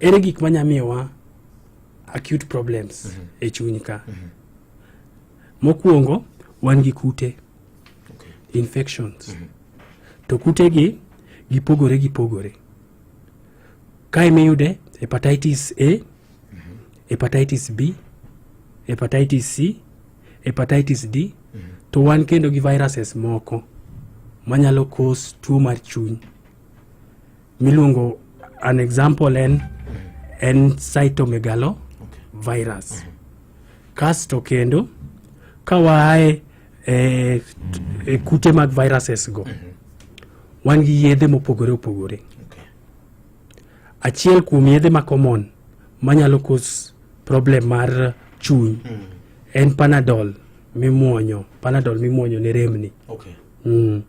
Ere gik ma nya miyowa acute problems mm -hmm. e chuny ka. Mm -hmm. Mokwongo wan gi kute okay. infections. Mm -hmm. To kute gi gipogore gipogore. Kae miyude hepatitis A, mm -hmm. hepatitis B, hepatitis C, hepatitis D, mm -hmm. to wan kendo gi viruses moko manyalo cause tuo mar chuny. miluongo an example en en cytomegalo virus kasto kendo ka waaye e, e kute mag viruses go wan gi yedhe mopogore opogore achiel kuom yedhe ma common manyalo kos problem mar chuny en panadol mimuonyo panadol mimuonyo ne remni Okay. mm.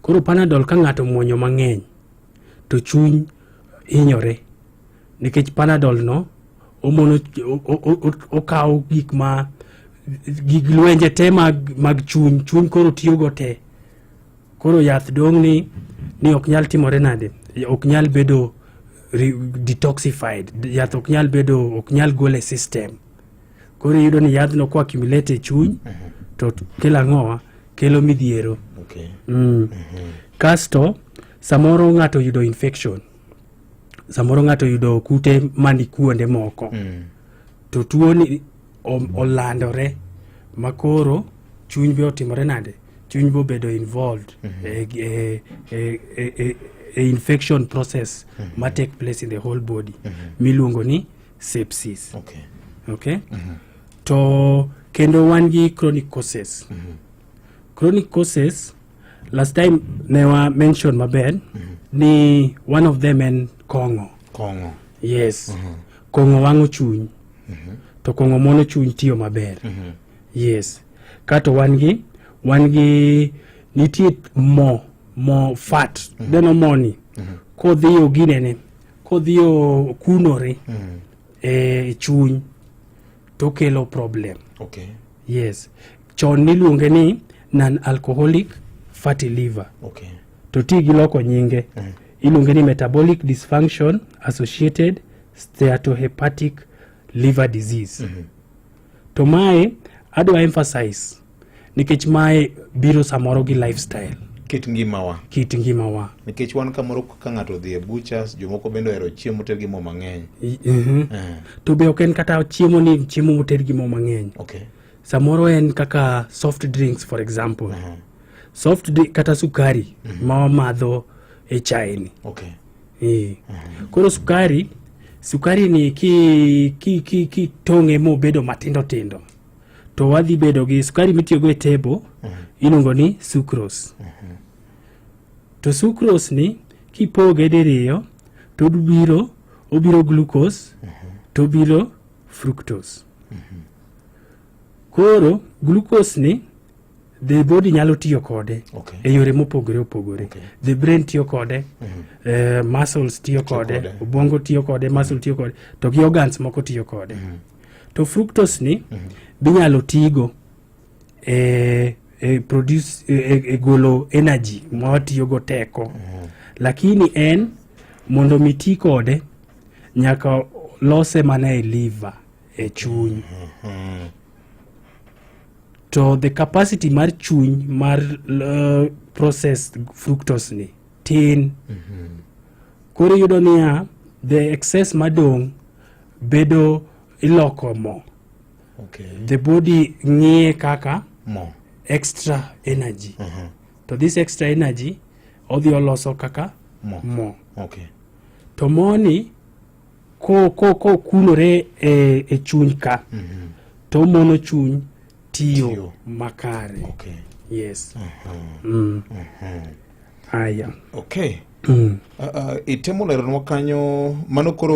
Koro panadol ka ng'ato muonyo mang'eny to chuny hinyore nikech panadol no omono okawo gik ma gig lwenje te mag, mag chuny chuny koro tiyogo te koro yath dong' ni ni ok nyal timore nade ok nyal bedo detoxified yath ok nyal bedo ok nyal gole system Koro iyudo ni yadhno kwa kimilete e chuny uh mhm. -huh. to kelo ang'owa kelo midhiero okay. mm. uh mhm. -huh. Kasto samoro ng'ato yudo infection samoro ng'ato yudo kute mani kuonde moko mm. to tuoni olandore makoro chuny be otimore nade chuny be obedo involved mm -hmm. e, e, e, e, e, e infection process mm -hmm. ma take place in the whole body mm -hmm. miluongo ni sepsis okay. Okay? Mm -hmm. to kendo wan gi chronic causes mm -hmm. chronic causes last time ne wa mention maber mm -hmm. ni one of them en kong'o kong'o yes mm -hmm. kong'o wang'o chuny mm -hmm. to kong'o mono chuny tiyo maber mm -hmm. yes kato wan gi wan gi nitie mo mo fat mm -hmm. deno moni mm -hmm. kodhiyo ginene Kodhi okunore mm. e chuny to kelo problem. Okay. Yes. Chon niluonge ni non alcoholic fatty liver. Okay. To ti gi loko nyinge. Mm. Iluonge ni metabolic dysfunction associated steatohepatic liver disease. Mm -hmm. To mae adwa emphasize nikech mae biro samoro gi lifestyle kit ngimawa kit ngimawa nikech wan kamoro ka ng'ato odhi e butchers jomoko bende ohero chiemo ter gi mo mang'eny mhm. eh. to be ok en kata chiemo ni chiemo moter gi mo mang'eny okay. samoro en kaka soft drinks for example uh -huh. soft drink kata sukari uh mhm. -huh. ma wamadho e chai ni okay. e. uh -huh. koro sukari sukari ni kitong'e ki, ki, ki, ki mobedo matindo tindo to wadhi bedo gi sukari mitiyogo e tebo mm -hmm. iluongo ni sucrose mm -hmm. to sucrose ni kipoge diriyo to obiro obiro glucose mm -hmm. to obiro fructose mm -hmm. koro glucose ni the body nyalo tiyo kode okay. e yore mopogore opogore okay. the brain tiyo kode mm -hmm. uh, muscles tiyo kode obwongo tiyo kode muscle tiyo kode to gi organs moko tiyo kode mm -hmm. to fructose ni mm -hmm. binyalo tigo e, e produce e, e, e golo energy mwatiyogo teko mm -hmm. lakini en mondo mi ti kode nyaka lose mana e liver e chuny mm -hmm. to the capacity mar chuny mar uh, processed fructose ni tin mm -hmm. koro iyudo niya the excess madong' bedo iloko mo okay. the body ng'iye kaka mo extra energy uh -huh. to this extra energy odhi oloso kaka mo, mo. Okay. to moni ko ko ko kunore e, e chuny ka mm -hmm. to mono chuny tiyo, tiyo. makare okay. yes uh -huh. mm. uh -huh. aya okay mm. uh, uh, itemo leronwa kanyo mano koro